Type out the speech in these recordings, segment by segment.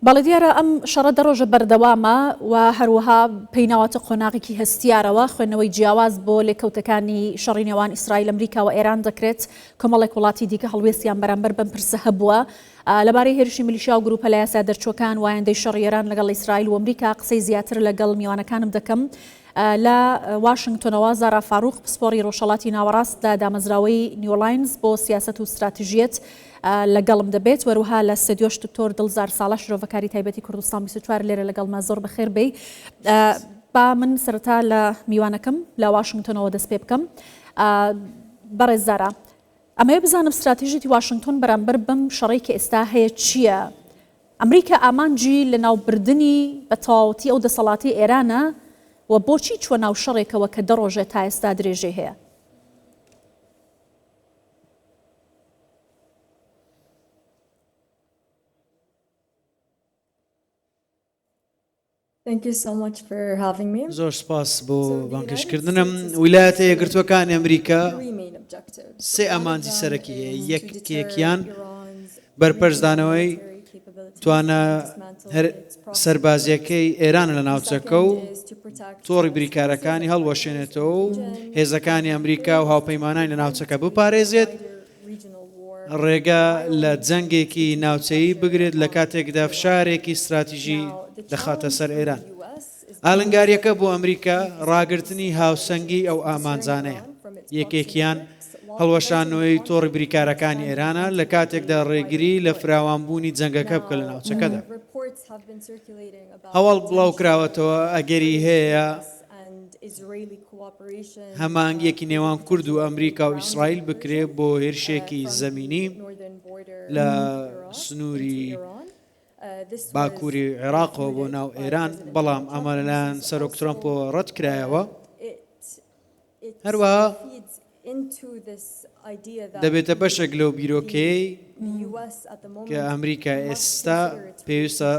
بەڵێ دیارە ئەم شەڕە دە ڕۆژە بەردەوامە و هەروەها پێیناواتە قۆناغێکی هەستیارەوە خوێندنەوەی جیاواز بۆ لێکەوتەکانی شەڕی نێوان ئیسرائیل ئەمریکا و ئێران دەکرێت کۆمەڵێک وڵاتی دیکە هەڵوێستیان بەرامبەر بەم پرسە هەبووە لەبارەی هێرشی ملیشیا و گروپە لە یاسا دەرچووەکان وایەندەی شەڕی ئێران لەگەڵ ئیسرائیل و ئەمریکا قسەی زیاتر لەگەڵ میوانەکانم دەکەم لە واشنگتۆنەوە زارا فاروق پسپۆری ڕۆژهڵاتی ناوەڕاست لە دامەزراوەی نیۆلاینز بۆ سیاست و استراتیژیەت لەگەڵم دەبێت وەروها لە ستدیۆش دکتۆر دڵزار ساڵح شرۆڤەکاری تایبەتی کوردستان بیست و چوار لێرە لەگەڵمە زۆر بەخێر بێی با من سەرەتا لە میوانەکەم لە واشنگتۆنەوە دەست پێ بکەم بەڕێز زارا ئەمەیە بزانم استراتیژیتی واشنگتۆن بەرامبەر بم شەڕی کە ئێستا هەیە چییە ئەمریکا ئامانجی لە ناوبردنی بە تەواوەتی ئەو دەسەڵاتی ئێرانە و بۆچی چوە ناو شەڕێکەوە کە دەڕۆژێت تا ئێستا درێژەی هەیە زۆر سپاس بۆ بانگهێشتکردنم. ویلایەتە یەکگرتووەکانی ئەمریکا سێ ئامانجی سەرەکی هەیە، یەکێکیان بەرپەرچدانەوەی توانا سەربازییەکەی ئێران لە ناوچەکە و تۆڕی بریکارەکانی هەڵوەشێنێتەوە و هێزەکانی ئەمریکا و هاوپەیمانانی لە ناوچەکە بپارێزێت ڕێگە لە جەنگێکی ناوچەیی بگرێت لە کاتێکدا فشارێکی استراتیژی دەخاتە سەر ئێران. ئالنگاریەکە بۆ ئەمریکا ڕاگررتنی هاوسەنگی ئەو ئامانجانەیە یەکێکیان هەڵوەشانەوەی تۆڕی بریکارەکانی ئێرانە لە کاتێکدا ڕێگری لە فراوانبوونی جەنگەکە بکە لە ناوچەکەدا. هەواڵ بڵاوکراوەتەوە ئەگەری هەیە هەمانگیەکی نێوان کورد و ئەمریکا و ئیسرائیل بکرێ بۆ هێرشێکی زەمینی لە سنووری باکووری عێراقەوە بۆ ناو ئێران بەڵام ئەمە لەلایەن سەرۆک ترۆمپۆ ڕەت کرایەوە. هەروەها دەبێتە بەشێک لەو بیرۆکەیەی کە ئەمریکا ئێستا پێویستە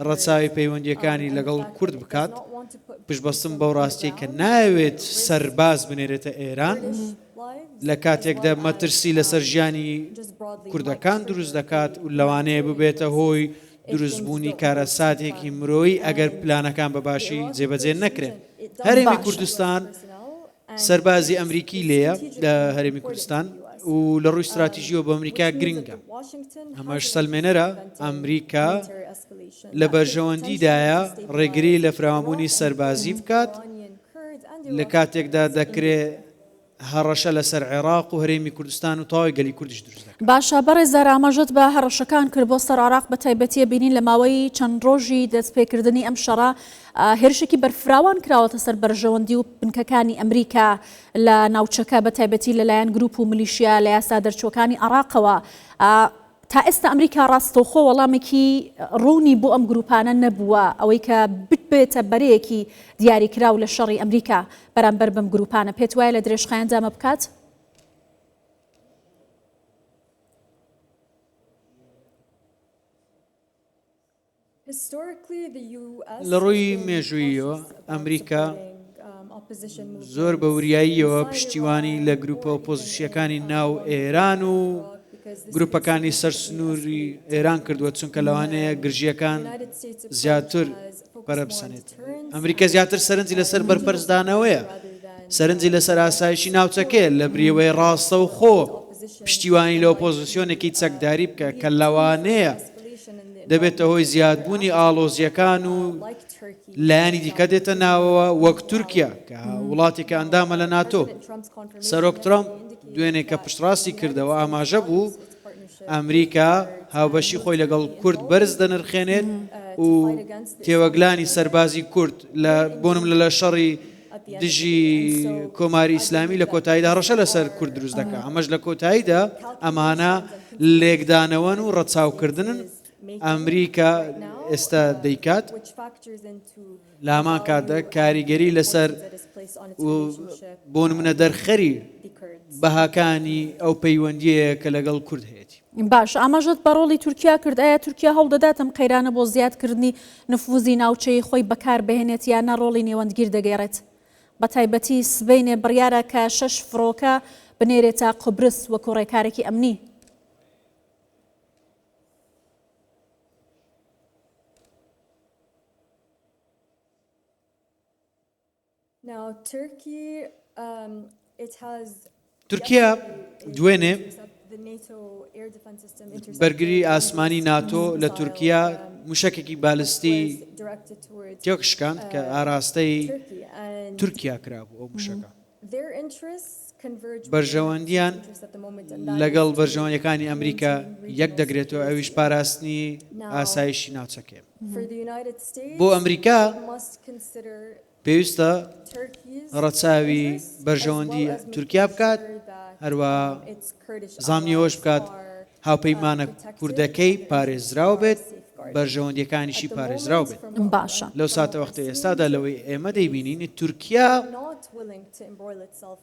ڕەچاوی پەیوەندیەکانی لەگەڵ کورد بکات پشبەستم بەو ڕاستیە کە ناوێت سەرباز بنێرێتە ئێران لە کاتێکدا مەترسی لەسەر ژیانی کوردەکان دروست دەکات و لەوانەیە ببێتە هۆی دروستبوونی کارەساتێکی مرۆیی ئەگەر پلانەکان بە باشی جێبەجێ نەکرێن. هەرێمی کوردستان سەربازی ئەمریکی لێیە لە هەرێمی کوردستان و لە ڕووی ستراتیژیەوە بە ئەمریکا گرنگە ئەمەش سەلمێنەرە ئەمریکا لە بەرژەوەندیدایە ڕێگری لە فراوانبوونی سەربازی بکات لە کاتێکدا دەکرێت هەڕەشە لەسەر عێڕاق و هەرێمی کوردستان و تەواوی گەلی کوردیش دروست دەکات. باشە بەڕێزار ئاماژەت بە هەڕەشەکان کرد بۆ سەر عێڕاق بە تایبەتیە بینین لە ماوەی چەند ڕۆژی دەست پێ کردنی ئەم شەڕە هێرشێکی بەرفراوان کراوەتە سەر بەرژەوەندی و بنکەکانی ئەمریکا لە ناوچەکە بە تایبەتی لە لایەن گروپ و ملیشیا لە یاسا دەرچوەکانی عێڕاقەوە تا ئێستا ئەمریکا ڕاستەوخۆ وەڵامێکی ڕوونی بۆ ئەم گرووپانە نەبووە، ئەوەی کە ببێتە بەرەیەکی دیاریکراو لە شەڕی ئەمریکا بەرامبەر بەم گرووپانە، پێت وایە لە درێژخایەندا ئەمە بکات؟ لە ڕووی مێژووییەوە ئەمریکا زۆر بە وریاییەوە پشتیوانی لە گروپە ئۆپۆزیسیەکانی ناو ئێران و گروپەکانی سەر سنووری ئێران کردووە چونکە لەوانەیە گرژیەکان زیاتر پەرەبسەنێت ئەمریکا زیاتر سەرنجی لەسەر بەرپەرزدانەوەیە سەرنجی لەسەر ئاسایشی ناوچەکەێ لە بریوەی ڕاستە و خۆ پشتیوانی لە ئۆپۆزیسیۆنێکی چەکداری بکە کە لەوانەیە دەبێتە هۆی زیادبوونی ئاڵۆزییەکان و لایەنی دیکە دێتە ناوەوە وەک تورکیا کە وڵاتێکە ئەندامە لە ناتۆ سەرۆک ترامپ دوێنێ کە پشتڕاستی کردەوە ئاماژە بوو ئەمریکا هاوبەشی خۆی لەگەڵ کورد بەرز دەنرخێنێت و تێوەگلانی سەربازی کورد لە بۆنم لە لە شەڕی دژی کۆماری ئیسلامی لە کۆتاییدا هەڕەشە لەسەر کورد دروست دەکات ئەمەش لە کۆتاییدا ئەمانە لێکدانەوەن و ڕەچاوکردنن ئەمریکا ئێستا دەیکات لامان کاتدا کاریگەری لەسەر بۆن منە دەرخەری بەهاکانی ئەو پەیوەندیەیە کە لەگەڵ کورد هەیەی باش ئاماژەت بە ڕۆڵی تورکیا کرد ئایا تورکیا هەوڵدەدات ئەم قەیرانە بۆ زیادکردنی نفوزی ناوچەی خۆی بەکار بهێنێت یان نە ڕۆڵی نێوەندگیر دەگێڕێت بە تایبەتی سبەینێ بڕیارە کە شەش فڕۆکە بنێرێتە قوبرس وەکو ڕێکارێکی ئەمنی تورکیا دوێنێ بەرگری ئاسمانی ناتۆ لە تورکیا موشەکێکی بالستی تێکشکاند کە ئاراستەی تورکیا کرابوو ئەو موشەکە بەرژەوەندیان لەگەڵ بەرژەوەندەکانی ئەمریکا یەک دەگرێتەوە ئەویش پاراستنی ئاسایشی ناوچەکەێن بۆ ئەمریکا پێویستە ڕەچاوی بەرژەوەندی تورکیا بکات هەروە زامنی ئەوەش بکات هاوپەیمانە کوردەکەی پارێزراو بێت بەرژەوەندیەکانیشی پارێزراو بێت باشە لەو ساتە وەختە ئێستادا لەوەی ئێمە دەیبینین تورکیا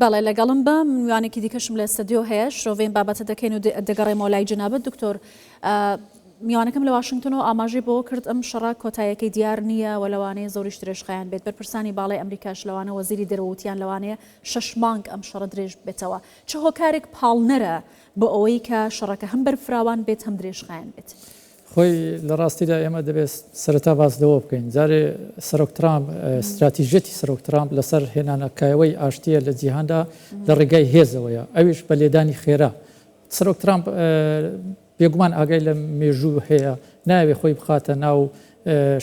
بەڵێ لەگەڵم بە، من میوانێکی دیکەشم لە ستدیۆ هەیە، شرۆڤەی ئەم بابەتە دەکەین و دەگەڕێمەوە لای جەنابت دکتۆر. میوانەکەم لە واشنگتنەوە ئاماژەی بەوە کرد ئەم شەڕە کۆتایەکەی دیار نییە و لەوانەیە زۆریش درێژخایەن بێت بەرپرسانی باڵی ئەمریکاش لەوانە وەزیری دەرەوەوتیان لەوانەیە شش مانگ ئەم شەڕە درێژ بێتەوە چ هۆکارێک پاڵنەرە بۆ ئەوەی کە شەڕەکە هەم بەرفراوان بێت هەم درێژخایەن بێت. خۆی لە ڕاستیدا ئێمە دەبێت سەرەتا باس لەوە بکەین جارێ سەرۆک ترامپ ستراتیژیەتی سەرۆک ترامپ لەسەر هێنانە کایەوەی ئاشتییە لە جیهاندا لە ڕێگای هێزەوەیە ئەویش بە لێدانی خێرا سەرۆک ترامپ بێگومان ئاگای لە مێژوو هەیە ناوێ خۆی بخاتە ناو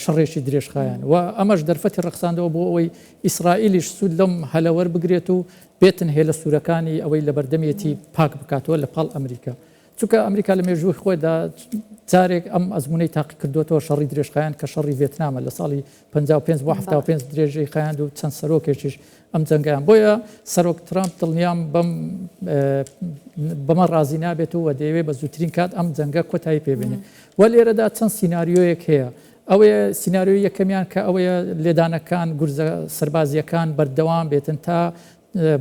شەڕێکی درێژخایەن و ئەمەش دەرفەتی ڕخساندەوە بۆ ئەوەی ئیسرائیلیش سوود لەم هەلەوەر بگرێت و بێتن هێلە سوورەکانی ئەوەی لە بەردەمێتی پاک بکاتەوە لە پاڵ ئەمریکا چونکە ئەمریکا لە مێژووی خۆیدا جارێک ئەم ئەزمونەی تاقی کردوێتەوە شەڕی درێژخایەن کە شەڕی ڤێتنامە لە ساڵی 55 بۆ 75 درێژەی خایاند و چەند سەرۆکێکیش ئەم جەنگیان بۆیە سەرۆک ترامپ دڵنیام بەم بەمە ڕازی نابێت و دەیەوێت بە زووترین کات ئەم جەنگە کۆتایی پێبێنێت و لێرەدا چەند سینناریۆیەک هەیە ئەوەیە سینناریۆی یەکەمیان کە ئەوەیە لێدانەکان گورزە سربازیەکان بەردەوام بێتن تا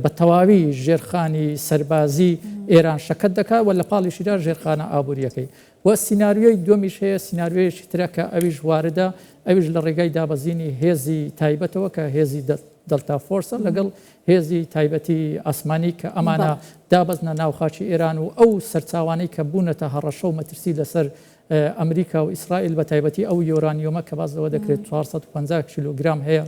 بە تەواوی ژێرخانی سەربازی ئێران شەکەت دەکات و لە پاڵیشیدا ژێرخانە ئابوورییەکەی و سیناریۆی دووەمیش هەیە، سیناریۆیەکی ترە کە ئەویش واردە، ئەویش لە ڕێگای دابەزینی هێزی تایبەتەوە کە هێزی دەلتا فۆرسە لەگەڵ هێزی تایبەتی ئاسمانی کە ئەمانە دابەزنە ناو خاکی ئێران و ئەو سەرچاوانەی کە بوونەتە هەڕەشە و مەترسی لەسەر ئەمریکا و ئیسرائیل بە تایبەتی ئەو یۆرانیۆمە کە باز لەوە دەکرێت 450 کیلوگرام هەیە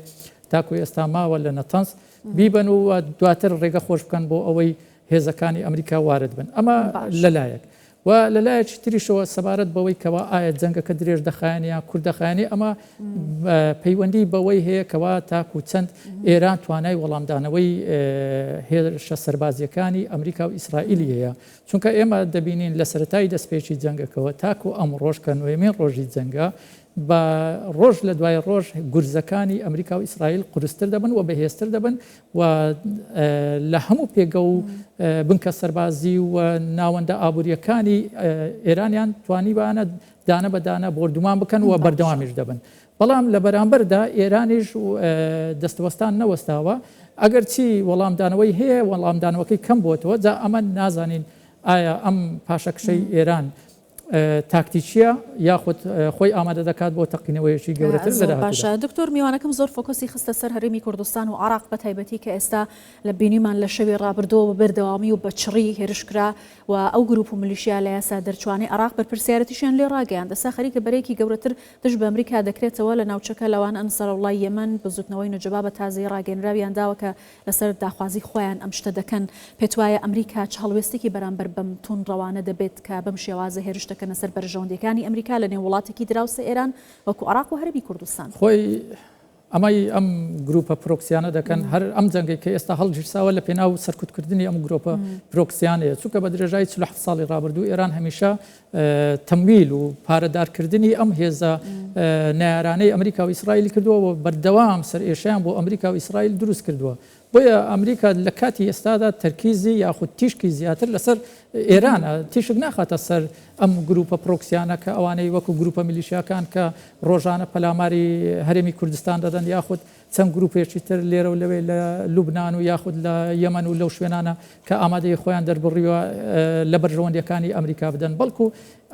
تاکو ئێستا ماوە لە نەتەنز بیبەن و دواتر ڕێگە خۆش بکەن بۆ ئەوەی هێزەکانی ئەمریکا وارد بن ئەمە لەلایەک و لەلایەکی تریشەوە سەبارەت بەوەی کەوا ئایا جەنگەکە درێژ دەخایەن یان کورد دەخایەنی ئەمە پەیوەندی بەوەی هەیە کەوا تاکو چەند ئێران توانای وەڵامدانەوەی هێرشە سەربازیەکانی ئەمریکا و ئیسرائیلی هەیە چونکە ئێمە دەبینین لە سەتای دەستپێکی جەنگەکەەوە تاکو ئەم ڕۆژکە نوێمین ڕۆژی جەنگە بە ڕۆژ لە دوای ڕۆژ گورزەکانی ئەمریکا و ئیسرائیل قورستر دەبن و بەهێزتر دەبن و لە هەموو پێگە و بنکە سەربازی و ناوەندە ئابووریەکانی ئێرانیان توانیوانە دانە بە دانە بۆردومان بکەن و بەردەوامیش دەبن بەڵام لە بەرامبەردا ئێرانیش دەستوەستان نەوەستاوە ئەگەر چی وەڵامدانەوەی هەیە وەڵامدانەوەکەی کەم بۆتەوە جا ئەمە نازانین ئایا ئەم پاشەکشەی ئێران تاکتیکیە یاخود خۆی ئامادە دەکات بۆ تەقینەوەیەکی گەورەتر لە داهاتوودا. زۆر باشە دکتۆر میوانەکەم زۆر فۆکۆسی خستە سەر هەرێمی کوردستان و عێراق بە تایبەتی کە ئێستا لە بینیمان لە شەوی ڕابردووە بە بەردەوامی و بە چڕی هێرش کرا و ئەو گروپ و ملیشیا لە یاسا دەرچوانەی عێراق بەرپرسیارەتیشیان لێ ڕاگەیاند ئێستا خەریکە بەرەیەکی گەورەتر دژ بە ئەمریکا دەکرێتەوە لە ناوچەکە لەوانە ئەنسارۆڵڵای یەمەن بزوتنەوەی نوجەبا بە تازەیی ڕاگەیەنراویان داوە کە لەسەر داخوازی خۆیان ئەم شتە دەکەن، پێتوایە ئەمریکا چ هەڵوێستێکی بەرامبەر بەم توندڕەوانە دەبێت کە بەم شێوازە هێرش دەکەنە سەر بەرژەوەندییەکانی ئەمریکا لەنێو وڵاتێکی دراوسێ ئێران وەکو عێراق و هەرێمی کوردستان؟ خۆی ئەمەی ئەم گروپە پرۆکسیانە دەکەن هەر ئەم جەنگەی کە ئێستا هەڵگیرساوە لە پێناو سەرکوتکردنی ئەم گرۆپە پرۆکسیانەیە، چونکە بە درێژایی چل و حەفت ساڵی ڕابردوو ئێران هەمیشە تەمویل و پارەدارکردنی ئەم هێزە نەیارانەی ئەمریکا و ئیسرائیلی کردووە و بەردەوام سەرئێشەیان بۆ ئەمریکا و ئیسرائیل دروست کردووە. بۆیە ئەمریکا لە کاتی ئێستادا تەرکیزی یاخود تیشکی زیاتر لەسەر ئێرانە، تیشک ناخاتە سەر ئەم گرووپە پرۆکسیانە کە ئەوانەی وەکو گرووپە میلیشیاکان کە ڕۆژانە پەلاماری هەرێمی کوردستان دەدەن یاخود چەند گروپێکی تر لێرە و لەوێ لە لوبنان و یاخود لە یەمەن و لەو شوێنانە کە ئامادەیی خۆیان دەربڕیوە لە بەرژەوەندییەکانی ئەمریکا بدەن، بەڵکو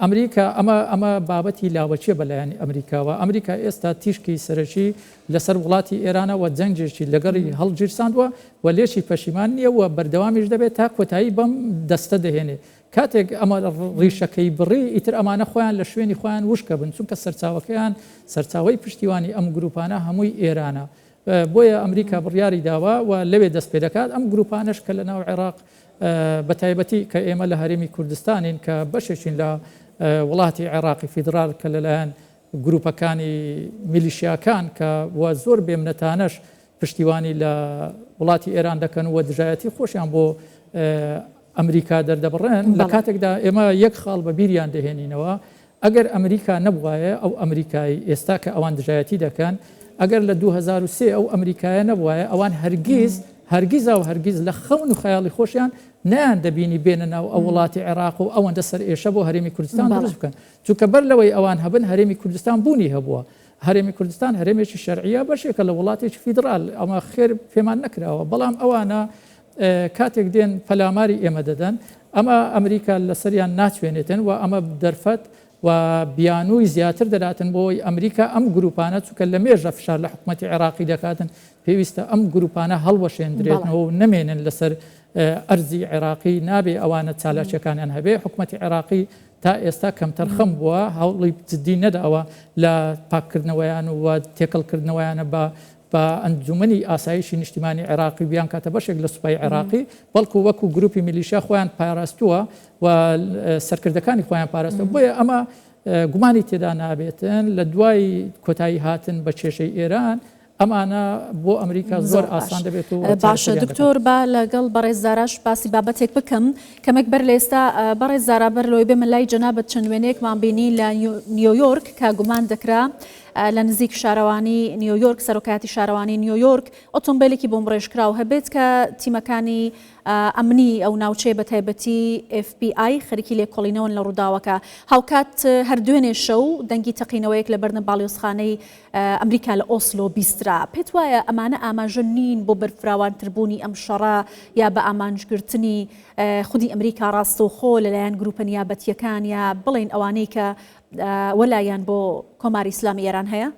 ئەمریکا ئەمە ئەمە بابەتی لاوەکییە بە لایەنی ئەمریکاوە، ئەمریکا ئێستا تیشکی سەرەکی لەسەر وڵاتی ئێرانە و جەنگێکی لەگەڵی هەڵگیرساندوە و لێکی پەشیمان نییە و بەردەوامیش دەبێت تا کۆتایی بەم دەستە دەهێنێت کاتێک ئەمە ڕیشەکەی بڕی، ئیتر ئەمانە خۆیان لە شوێنی خۆیان وشکەبن، چونکە سەرچاوەکەیان، سەرچاوەی پشتیوانی ئەم گرووپانە هەمووی ئێرانە. بۆیە ئەمریکا بڕیاری داوە و لەوێ دەست پێ دەکات. ئەم گرووپانەش کە لەناو عێراق، بەتایبەتی کە ئێمە لە هەرێمی کوردستانین کە بەشێکین لە وڵاتی عێراقی فیدراڵ کە لەلایەن گرووپەکانی میلیشیاکان کە و زۆر بێمنەتانەش پشتیوانی لە وڵاتی ئێران دەکەن و دژایەتی خۆشیان بۆ ئەمریکا دەردەبڕێن، لە کاتێکدا ئێمە یەک خاڵ بە بیریان دەهێنینەوە، ئەگەر ئەمریکا نەبووایە، ئەو ئەمریکای ئێستا کە ئەوان دژایەتی دەکەن، ئەگەر لە دوو هەزار و سێ ئەو ئەمریکایە نەبووایە، ئەوان هەرگیز، هەرگیز و هەرگیز لە خەون و خەیاڵی خۆشیان نەیاندەبینی بێنە ناو ئەو وڵاتی عێراق و ئەوەندە سەرئێشە بۆ هەرێمی کوردستان دروست بکەن، چونکە بەر لەوەی ئەوان هەبن، هەرێمی کوردستان بوونی هەبووە. هەرێمی کوردستان هەرێمێکی شەرعیە بەشێکە لە وڵاتێکی فیدرال ئەمە خێر پێمان نەکراوە بەڵام ئەوانە کاتێک دێن پەلاماری ئێمە دەدەن ئەمە ئەمریکا لەسەریان ناچوێنێتن و ئەمە دەرفەت و بیانووی زیاتر دەراتن بۆی ئەمریکا ئەم گروپانە چکە لە مێژە فشار لە حکوومەتتی عێراقی دەکاتن پێویستە ئەم گروپانە هەڵوەشێندرێتەوە و نمێنن لەسەر ئەرزی عێراقی نابێ ئەوانە چالاکیەکانیان هەبێ حکوومەتتی عێراقی تا ئێستا کەمتەرخەم بووە، هەوڵی جددی نەداوە لە پاککردنەوەیان و تێکەڵکردنەوەیانە بە بە ئەنجوومەنی ئاسایشی نیشتیمانی عێراقی و بیانکاتە بەشێک لە سوپای عێراقی، بەڵکو وەکو گرووپی میلیشیا خۆیان پاراستووە و سەرکردەکانی خۆیان پاراستووە، بۆیە ئەمە گومانی تێدا نابێت لە دوای کۆتاییهاتن بە کێشەی ئێران، ئەمانە بۆ ئەمریکا زۆر ئاسان دەبێت و باشە دکتۆر با لەگەڵ بەڕێز زاراش باسی بابەتێک بکەم کەمێک بەر لە ئێستا بەڕێز زارا بەر لۆی بێمە لای جەنابەت چەند وێنەیەکمان بینی لە نیویۆرک کە گومان دەکرا لە نزیک شارەوانی نیویۆرک سەرۆکاتی شارەوانی نیویۆرک ئۆتۆمبیلێکی بۆم ڕێژکراو هەبێت کە تیمەکانی ئەمنی ئەو ناوچەیە بە تایبەتی FBI خەرکی لێکۆڵینەوەن لە ڕووداوەکە هاوکات هەر دوێنێ شەو دەنگی تەقینەوەیەک لە بەردەم باڵیۆزخانەی ئەمریکا لە ئۆسلۆ بیسترا. پێت وایە ئەمانە ئاماژە نین بۆ بەرفراوانتر بوونی ئەم شەڕە یا بە ئامانج گرتنی خودی ئەمریکا ڕاستەوخۆ لە لایەن گرووپە نیابەتییەکان یا بڵێین ئەوانەی کە وەلایان بۆ کۆماری ئیسلامی ئێران هەیە؟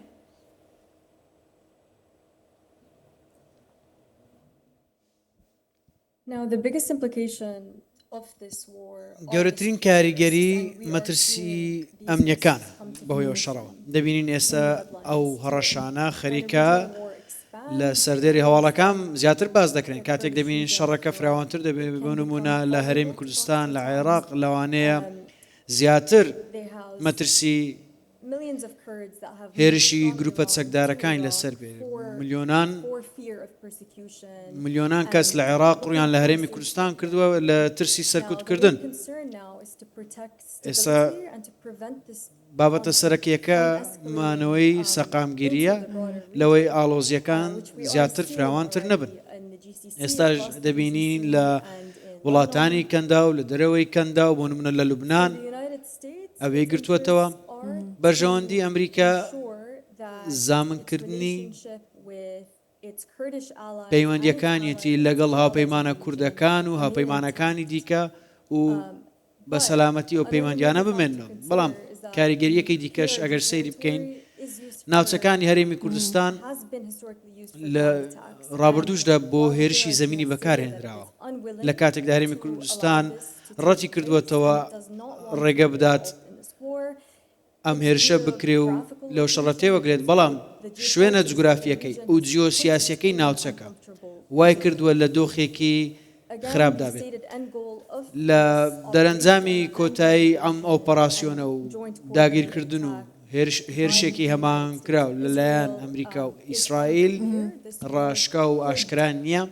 گەورەترین کاریگەری مەترسییە ئەمنییەکانە بەهۆی ئەو شەڕەوە دەبینین ئێستا ئەو هەڕەشانە خەریکە لە سەردێری هەواڵەکان زیاتر باس دەکرێن کاتێک دەبینین شەڕەکە فراوانتر دەبێت بۆ نمونە لە هەرێمی کوردستان لە عێراق لەوانەیە زیاتر مەترسی هێرشی گروپە چەکدارەکانی لەسەر بێت ملیۆنان ملیۆنان کەس لە عێراق ڕویان لە هەرێمی کوردستان کردووە لە ترسی سەرکوتکردن ئێستا بابەتە سەرەکیەکە مانەوەی سەقامگیریە لەوەی ئاڵۆزیەکان زیاتر فراوانتر نەبن ئێستاش دەبینین لە وڵاتانی کەندا و لە دەرەوەی کەندا و بۆ منە لە لوبناان ئەوێی گرتووەتەوە، بەرژەوەندی ئەمریکا زامنکردنی پەیوەندییەکانیەتی لەگەڵ هاوپەیمانە کوردەکان و هاوپەیمانەکانی دیکە و بە سەلامەتی ئەو پەیوەندیانە بمێنەوە بەڵام کاریگەریەکەی دیکەش ئەگەر سەیری بکەین ناوچەکانی هەرێمی کوردستان لە ڕابردوشدا بۆ هێرشی زمینی بەکارهێنراوە لە کاتێک دارێمی کوردستان ڕەتیکردووەتەوە ڕێگە بدات ئەم هێرشە بکرێ و لەو شەڕە تێوەگلێت، بەڵام شوێنە جوگرافییەکەی و جیۆسیاسیەکەی ناوچەکە وای کردووە لە دۆخێکی خراپدا بێت. لە دەرەنجامی کۆتایی ئەم ئۆپەراسیۆنە و داگیرکردن و هێرشێکی هەماهەنگکراو لەلایەن ئەمریکا و ئیسرائیل ڕاشکاو و ئاشکرا نییە،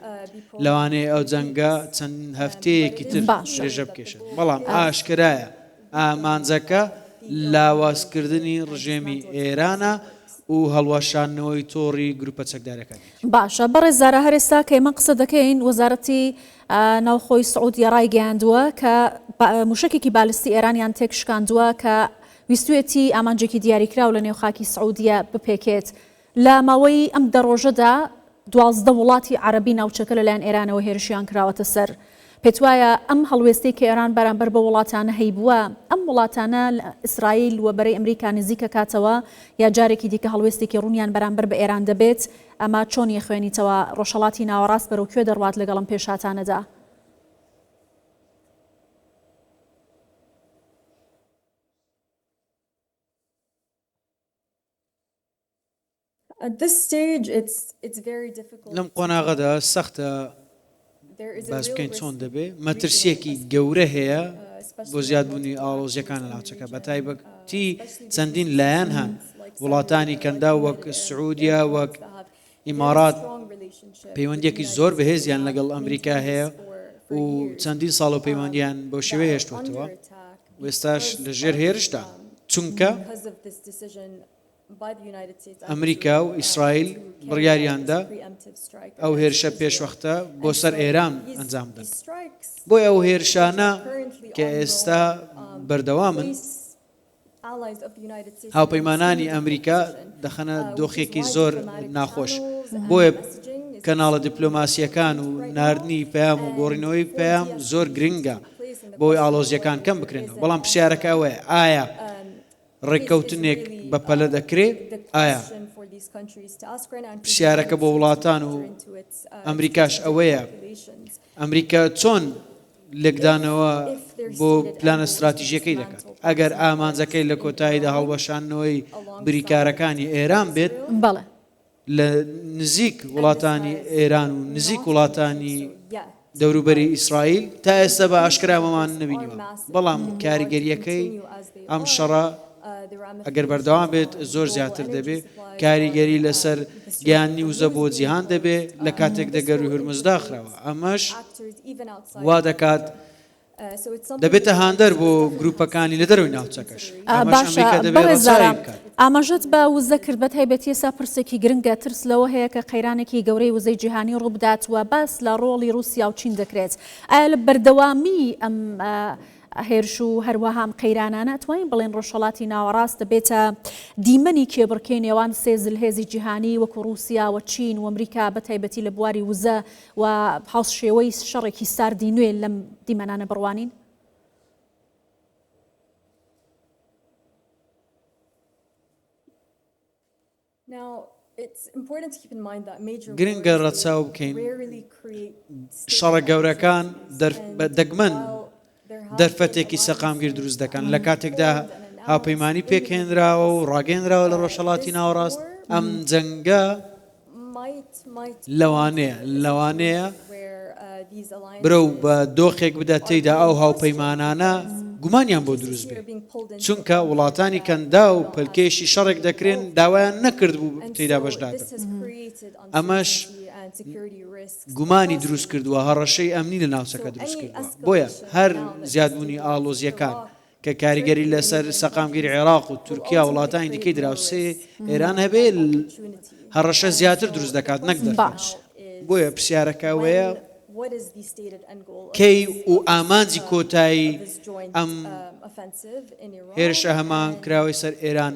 لەوانەیە ئەو جەنگە چەند هەفتەیەکی تر درێژە بکێشێت، بەڵام ئاشکرایە ئامانجەکە لاوازکردنی ڕژێمی ئێرانە و هەڵوەشاندنەوەی تۆڕی گروپە چەکدارەکانی. باشە بەڕێزارا هەر ئێستا کە ئێمە قسە دەکەین وەزارەتی ناوخۆی سعودیە ڕایگەیاندووە کە موشکێکی بالستی ئێرانیان تێک شکاندووە کە ویستویەتی ئامانجێکی دیاریکراو لە نێو خاکی سعودیە بپێکێت. لە ماوەی ئەم دە ڕۆژەدا دوازدە وڵاتی عەرەبی ناوچەکە لەلایەن ئێرانەوە هێرشیان کراوەتە سەر. پێتوایە ئەم هەڵوێستەی کە ئێران بەرامبەر بەو وڵاتانە هەیبووە، ئەم وڵاتانە لە ئیسرائیل و بەرەی ئەمریکا نزیک ئەکاتەوە یا جارێکی دیکە هەڵوێستێکی ڕوونیان بەرامبەر بە ئێران دەبێت؟ ئەمە چۆن یەخوێنیتەوە؟ ڕۆژهەڵاتی ناوەڕاست بەرەو کوێ دەڕوات لەگەڵ ئەم پێشهاتانەدا؟ لەم قۆناغەدا سەختە باس بکەین چۆن دەبێت مەترسیەکی گەورە هەیە بۆ زیادبوونی ئاڵۆزیەکان لە ناوچەکە بە تایبەتی چەندین لایەن هەن وڵاتانی کەندا وەک سعودیا وەک ئیمارات پەیوەندیەکی زۆر بەهێزیان لەگەڵ ئەمریکا هەیە و چەندین ساڵ و پەیوەندیان بۆ شێوەی هێشتوتەوە وێستاش لە ژێر هێرشتا چونکە ئەمریکا و ئیسرائیل بڕیاریاندا ئەو هێرشە پێشوەختە بۆ سەر ئێران ئەنجام دەن بۆی ئەو هێرشانە کە ئێستا بەردەوامن هاوپەیمانانی ئەمریکا دەخەنە دۆخێکی زۆر ناخۆش، بۆیە کەناڵە دیپلۆماسییەکان و ناردنی پەیام و گۆڕینەوەی پەیام زۆر گرنگە بۆی ئاڵۆزییەکان کەم بکرێنەوە، بەڵام پرسیارەکە ئەوەیە ئایا ڕێککەوتنێک بەپەلە دەکرێ؟ ئایا پرسیارەکە بۆ وڵاتان و ئەمریکاش ئەوەیە ئەمریکا چۆن لێکدانەوە بۆ پلانە ستراتیژیەکەی دەکات ئەگەر ئامانجەکەی لە کۆتاییدا هەڵوەشانەوەی بریکارەکانی ئێران بێت بەڵێ لە نزیک وڵاتانی ئێران و نزیک وڵاتانی دەوروبەری ئیسرائیل تا ئێستا بە ئاشکراوەمان نبینیوە بەڵام کاریگەریەکەی ئەم شەڕە ئەگەر بەردەوام بێت زۆر زیاتر دەبێ کاریگەری لەسەر گەیاندنی وزە بۆ جیهان دەبێ لە کاتێکدا گەرووی هورمز داخراوە ئەمەش وا دەکات دەبێتە هاندەر بۆ گروپەکانی لە دەروی ناوچەکەش ئاماژەت بە وزە کرد بە تایبەتی ئێسا پرسێکی گرنگە ترس لەوە هەیە کە قەیرانێکی گەورەی وزەی جیهانی ڕووبدات و باس لە ڕۆڵی رووسیا و چین دەکرێت ئایا لە بەردەوامی ئەم هێرش و هەروەها ئەم قەیرانانە ئەتوانین بڵێین ڕۆژهەڵاتی ناوەڕاست دەبێتە دیمەنی کێبڕکێی نێوان سێ زلهێزی جیهانی وەکو ڕووسیا و چین و ئەمریکا بە تایبەتی لە بواری وزە و هاوسشێوەی شەڕێکی ساردی نوێ لەم دیمەنانە بڕوانین؟ گرنگە ڕەچاو بکەین شەڕە گەورەکان دەگمەن دەرفەتێکی سەقامگیر دروست دەکەن لە کاتێکدا هاوپەیمانی پێکهێنراوە و ڕاگەێنراوە لە ڕۆژهڵاتی ناوەڕاست ئەم جەنگە لەوانەیە لەوانەیە برەو بە دۆخێک بدات تێیدا ئەو هاوپەیمانانە گومانیان بۆ دروست بێت چونکە وڵاتانی کەندا و پەلکێشی شەڕێک دەکرێن داوایان نەکرد بوو تێدا بەشدار ئەمەش گومانی دروست کردووە هەڕەشەی ئەمنی لە ناوچەکە دروست کردووە بۆیە هەر زیادبوونی ئاڵۆزیەکان کە کاریگەری لەسەر سەقامگیری عێراق و تورکیا و وڵاتانی دیکەی دراوسێی ئێران هەبێ هەڕەشە زیاتر دروست دەکات نەک دەباش بۆیە پرسیارەکە وەیە کەی و ئامانجی کۆتایی ئەم هێرشە هەمان کراوەی سەر ئێران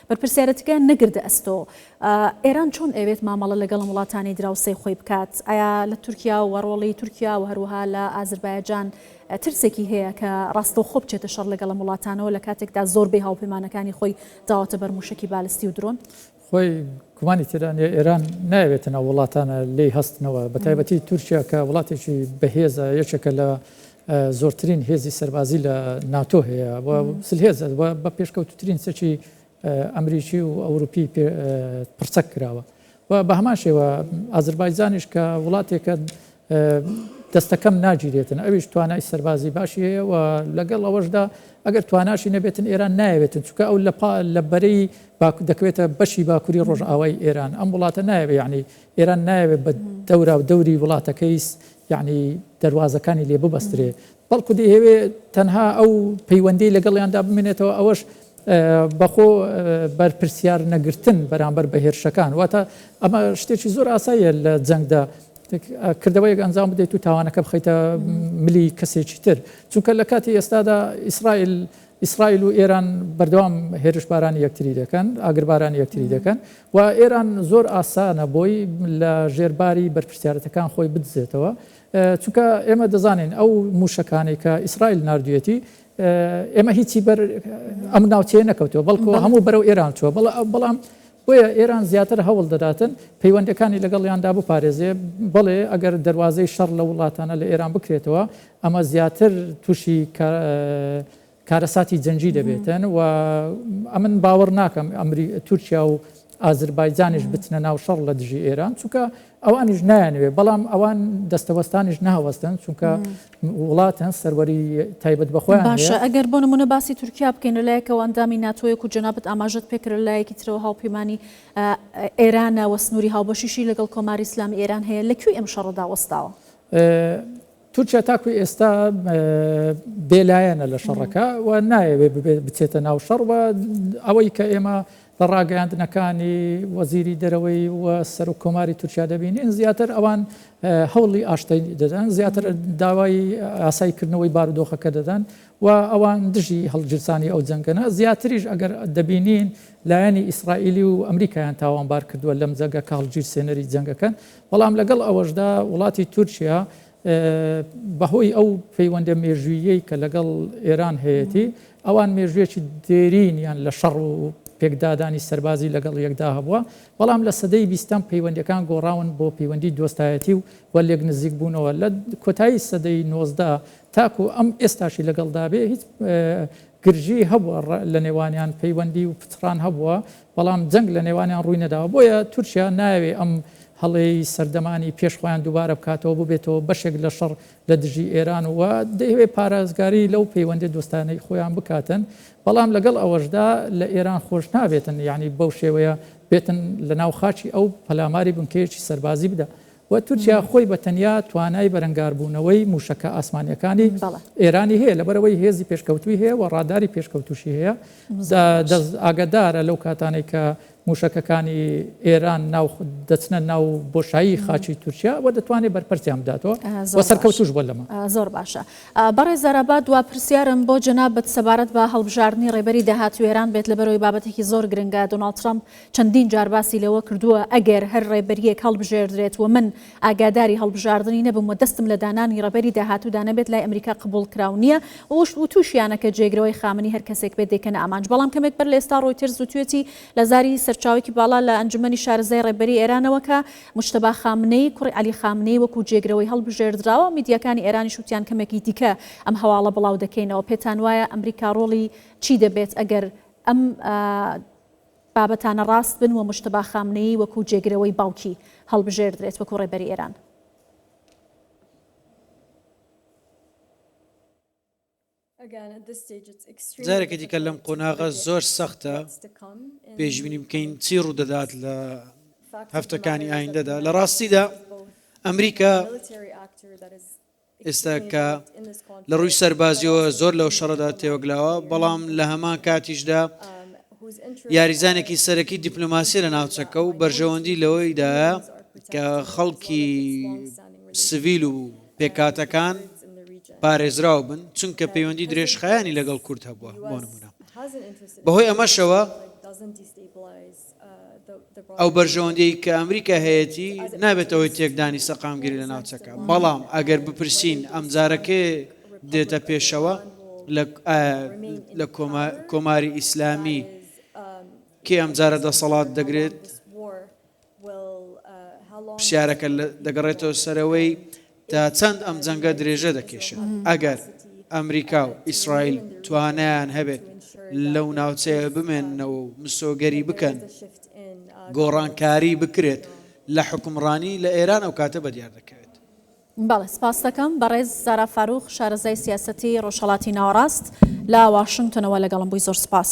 بەرپرسیارەتیکەیان نەگردە ئەستۆ. ئێران چۆن ئەیەوێت مامەڵە لەگەڵم وڵاتانی دراوسێی خۆی بکات؟ ئایا لە تورکیا و ڕۆڵی تورکیا و هەروەها لە ئازربایجان ترسێکی هەیە کە ڕاستەوخۆ بچێتە شەڕ لەگەڵ ئەم وڵاتانەوە لە کاتێکدا زۆربەی هاوپەیمانەکانی خۆی داوەتە بەر مووشەکی بالستی و درۆن؟ خۆی گومانی تێدا نییە ئێران نایەوێتن ئەو وڵاتانە لێی هەستنەوە بەتایبەتی تورکیا کە وڵاتێکی بەهێزە یەکێکە لە زۆرترین هێزی سەربازی لە ناتۆ هەیە و زلهێزە و بە پێشکەوتوترین چەکی ئەمریکی و ئەوروپی پڕچەک کراوە و بە هەمان شێوە ئازربایجانیش کە وڵاتێکە دەستەکەم ناگیرێتن ئەویش توانای سەربازی باشی هەیە و لەگەڵ ئەوەشدا ئەگەر تواناشی نەبێتن ئێران نایەوێتن چکە ئەو لە لە بەرەی دەکەوێتە بەشی باکووری ڕۆژئاوای ئێران ئەم وڵاتە نایەوێ یعنی ئێران نایەوێت بە دەورا و دەوری وڵاتەکەی یەعنی دەروازەکانی لێ ببەسترێ بەڵکو دەیهەوێ تەنها ئەو پەیوەندیی لەگەڵیاندا بمێنێتەوە ئەوەش بە خۆ بەرپرسیار نەگرتن بەرامبەر بە هێرشەکان واتە ئەمە شتێکی زۆر ئاساییە لە جەنگدا کردەوەیەک ئەنجام بدەیت و تاوانەکە بخەیتە ملی کەسێکی تر چونکە لە کاتی ئێستادا ئیسرائیل ئیسرائیل و ئێران بەردەوام هێرشبارانی یەکتری دەکەن، ئاگربارانی یەکتری دەکەن و ئێران زۆر ئاسانە بۆی لە ژێر باری بەرپرسیارەتەکان خۆی بدزێتەوە، چونکە ئێمە دەزانین ئەو مووشەکانەی کە ئیسرائیل ناردوویەتی ئێمە هیچی بەر ئەم ناوچەیە نەکەوتووە، بەڵکۆ هەموو بەرەو ئێران چووە، بەڵام بۆیە ئێران زیاتر هەوڵ دەداتن پەیوەندیەکانی لەگەڵیاندا بپارێزێ، بەڵێ ئەگەر دەروازەی شەڕ لەو وڵاتانە لە ئێران بکرێتەوە ئەمە زیاتر تووشی کارەساتی جەنگی دەبێتن و ئەمن باوەڕ ناکەم تورکیا و ئازربایجانیش بچنە ناو شەڕ لە دژی ئێران، چونکە ئەوانیش نایانەوێت، بەڵام ئەوان دەستەوەستانیش ناوەستن، چونکە وڵاتن سەروەری تایبەت بەخۆیان. باشە ئەگەر بۆ نمونە باسی تورکیا بکەین لە لایەکەوە ئەندامی ناتۆیەک و جەنابت ئاماژەت پێکرد لە لایەکی ترەوە هاوپەیمانی ئێرانە و سنووری هاوبەشیشی لەگەڵ کۆماری ئیسلامی ئێران هەیە، لە کوێی ئەم شەڕەدا وەستاوە؟ تورکیا تاکو ئێستا بێلایەنە لە شەڕەکە و نایەوێت بچێتە ناو شەڕ و ئەوەی کە ئێمە لە ڕاگەیاندنەکانی وەزیری دەرەوەی و سەر و کۆماری تورکیا دەبینین زیاتر ئەوان هەوڵی ئاشتەی دەدەن زیاتر داوای ئاساییکردنەوەی بارودۆخەکە دەدەن و ئەوان دژی هەڵگیرسانی ئەو جەنگەنە زیاتریش ئەگەر دەبینین لایەنی ئیسرائیلی و ئەمریکایان تاوانبار کردووە لەم جەنگە کە هەڵگیرسێنەری جەنگەکەن بەڵام لەگەڵ ئەوەشدا وڵاتی تورکیا بەهۆی ئەو پەیوەندە مێژووییەی کە لەگەڵ ئێران هەیەتی، ئەوان مێژوویەکی دێرینیان لە شەڕ و پێکدادانی سەربازی لەگەڵ یەکدا هەبووە، بەڵام لە سەدەی بیستەم پەیوەندییەکان گۆڕاون بۆ پەیوەندی دۆستایەتی و و لێک نزیک بوونەوە، لە کۆتایی سەدەی نۆزدە تاکو ئەم ئێستاشی لەگەڵدا بێ هیچ گرژی هەبووە لە نێوانیان پەیوەندی و پچڕان هەبووە، بەڵام جەنگ لە نێوانیان ڕووی نەداوە، بۆیە تورکیا نایەوێ ئەم هەڵەی سەردەمانی پێش خۆیان دووبارە بکاتەوە و ببێتەوە بەشێک لە شەڕ لە دژی ئێران و دەیهەوێ پارێزگاری لەو پەیوەندیە دۆستانەی خۆیان بکاتن، بەڵام لەگەڵ ئەوەشدا لە ئێران خۆش نابێتن یانی بەو شێوەیە بێتن لە ناو خاکی ئەو پەلاماری بنکەیەکی سەربازی بدا و تورکیا خۆی بە تەنیا توانای بەرەنگاربوونەوەی مووشەکە ئاسمانییەکانی ئێرانی هەیە، لەبەرئەوەی هێزی پێشکەوتووی هەیە و ڕاداری پێشکەوتووشی هەیە، دەست ئاگەدارە لەو کاتانەی کە مووشەکەکانی ئێران ناو دەچنە ناو بۆشایی خاچی تورکیا و دەتوانێت بەرپەرچیان بداتەوە و سەرکەوتووش بووە لەمە. زۆر باشە بەڕێز ئارابات، دوا پرسیارم بۆ جەنابت سەبارەت بە هەڵبژاردنی ڕێبەری داهاتووی ئێران بێت، لەبەرئەوەی بابەتێکی زۆر گرنگە، دۆناڵد ترەمپ چەندین جار باسی لەوە کردووە، ئەگەر هەر ڕێبەرییەک هەڵبژێردرێت و من ئاگاداری هەڵبژاردنی نەبم و دەستم لە دانانی ڕێبەری داهاتوودا نەبێت، لای ئەمریکا قبووڵکراو نییە و وتووشیانە کە جێگرەوەی خامنەی هەر کەسێک بێت دەیکەنە ئامانج. بەڵام کەمێک بەر لە ئێستا ڕۆیتێرز وتوویەتی لە زاری سەرچاوەیەکی باڵا لە ئەنجومەنی شارەزای ڕێبەری ئێرانەوە کە موجتەبا خامنەیی کوڕی عەلی خامنەیی وەکوو جێگرەوەی هەڵبژێردراوە، میدیاکانی ئێرانیش وتیان کەمێکی دیکە ئەم هەواڵە بڵاو دەکەینەوە. پێتان وایە ئەمریکا ڕۆڵی چی دەبێت ئەگەر ئەم بابەتانە ڕاست بن و مجتبا خامنەیی وەکو جێگرەوەی باوکی هەڵبژێردرێت وەکو ڕێبەری ئێران. جارێکی دیکە لەم قۆناغە زۆر سەختە پێشبینی بکەین چی ڕوودەدات لە هەفتەکانی ئایندەدا لە ڕاستیدا ئەمریکا ئێستا کە لە ڕووی سەربازییەوە زۆر لەو شەڕەدا تێوەگلاوە، بەڵام لە هەمان کاتیشدا یاریزانێکی سەرەکی دیپلۆماسیە لە ناوچەکە و بەرژەوەندی لەوەیدایە کە خەڵکی سڤیل و پێکاتەکان پارێزراو بن چونکە پەیوەندی درێژخایانی لەگەڵ کورد هەبووە بۆ نمونە بەهۆی ئەمەشەوە ئەو بەرژەوەندیەی کە ئەمریکا هەیەتی نابێتە هۆی تێکدانی سەقامگیری لە ناوچەکە، بەڵام ئەگەر بپرسین ئەمجارە کێ دێتە پێشەوە لە کۆماری ئیسلامی کێ ئەمجارە دەسەڵات دەگرێت پرسیارەکە دەگەڕێتەوە سەرەوەی تا چەند ئەم جەنگە درێژە دەکێشێت؟ ئەگەر ئەمریکا و ئیسرائیل توانایان هەبێت لەو ناوچەیە بمێننەوە و مسۆگەری بکەن، گۆڕانکاری بکرێت لە حوکمڕانی لە ئێران، ئەو کاتە بە دیار دەکەوێت. بەڵێ، سپاست دەکەم. بەڕێز زارا فارووق، شارەزای سیاسەتی ڕۆژهەڵاتی ناوەڕاست، لە واشنتۆنەوە لەگەڵم بووی. زۆر سپاس.